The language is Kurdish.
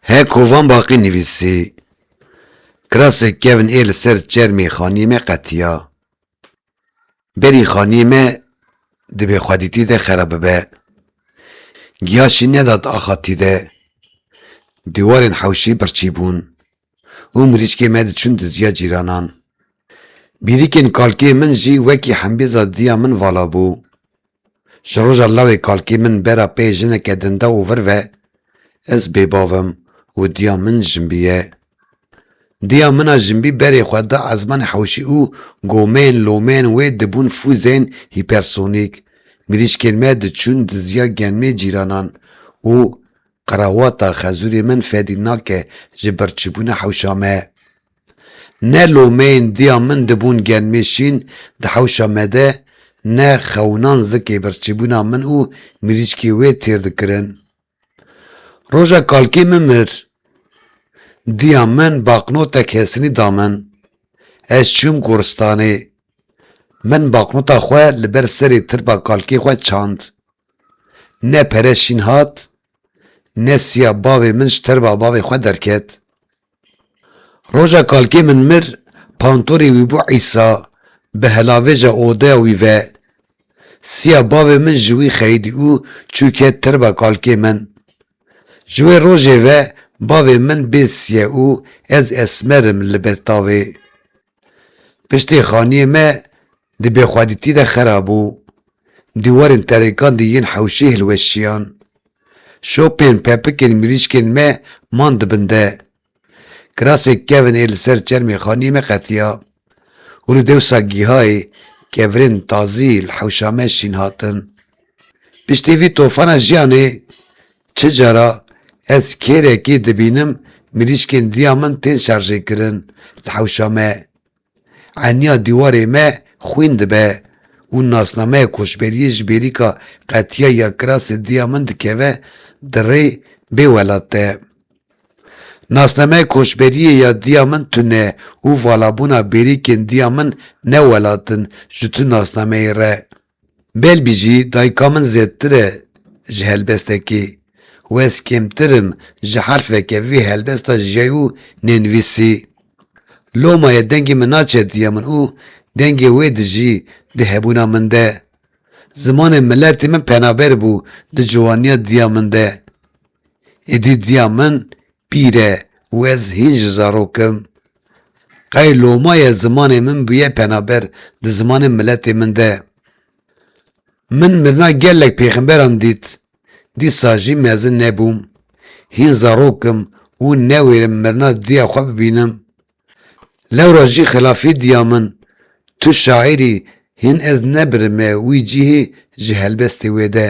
He ku van baqî nivîsî. Kirasê kevn ê li ser çermê xaniyê me qetiya. Berî xaniyê me di bêxwedîtî de xera bibe. Giya şî nedat axa tî de. Dîwarên hewşî birçî bûn. û mirîşkê me diçûn diziya cîranan. Bîrîkên kalkê min jî wekî hembêza diya min vala bû. Ji roja lawê kalkê min bera pê jineke dinda û vir ve, ez bêbav im û diya min jinbî ye. Diya min a jinbî berê xwe da ezmanê hewşî û gomên, lomên wê dibûn fûzên hîpersonîk, mirîşkên me diçûn diziya genmê cîranan û Qrawata xezûrê min fedî nake ji birçîbûna hewşa me. Ne lomeyên diya min dibûn genmê şîn di hewşa me de, ne xewinan zikê birçîbûna min û mirîşkê wê têr dikirin. Roja kalkê min mir. Diya min baqnotek hesinî da min. Ez çûm goristanê. Min baqnota xwe li ber serê tirpa kalkê xwe çand. Ne pere şîn hat, ne siya bavê min ji terba bavê xwe derket. Roja kalkê min mir, pantorê wî bû îsa bi helavêja odeya wî ve. Siya bavê min ji wî xeyidî û çû ket terba kalkê min. Ji wê rojê ve bavê min bê siye û ez esmer im li ber tavê. Piştî xaniyê me di bêxwedîtî de xerabû, dîwarên terêkan di yên hewşî hilweşiyan. Şopên pepikên mirîşkên me man di bin de. Kirasê kevn ê li ser çermê xaniyê me qetiya û li dewsa gîhayê kevrên tazî li hewşa me şîn hatin. Piştî vî tofana jiyanê Çi cara ez kêrekî dibînim mirîşkên diya min tên şarjêkirin li hewşa me. Eniya dîwarê me xwîn dibe û nasnameya koçberiyê ji bêrîka qetiya ya kirasê diya min dikeve di rê bê welat de. Nasnameya koçberiyê ya diya min tune û valabûna bêrîkên diya min ne welat in ji tu nasnameyê re. Belbî jî dayika min zêdtir e ji helbestekî û ez kêmtir im ji herfeke vê helbesta jiyayî û nênivîsî. Lomayê dengê min naçe diya min û dengê wê dijî di hebûna min de. Zimanê miletê min penaber bû di ciwaniya diya min de. Êdî diya min Pîre wez hîn ji zarokim qey loma ye zimanê min bûye penaber di zimanê miletê min de. Min mirina gelek pêxemberan dît, dîsa jî mezin nebûm, hîn zarokim û newêrim mirina diya xwe bibînim. Lewra jî xilafî diya min, tu şaîrî hîn ez nebirime wî cîhê ji helbestê wê de.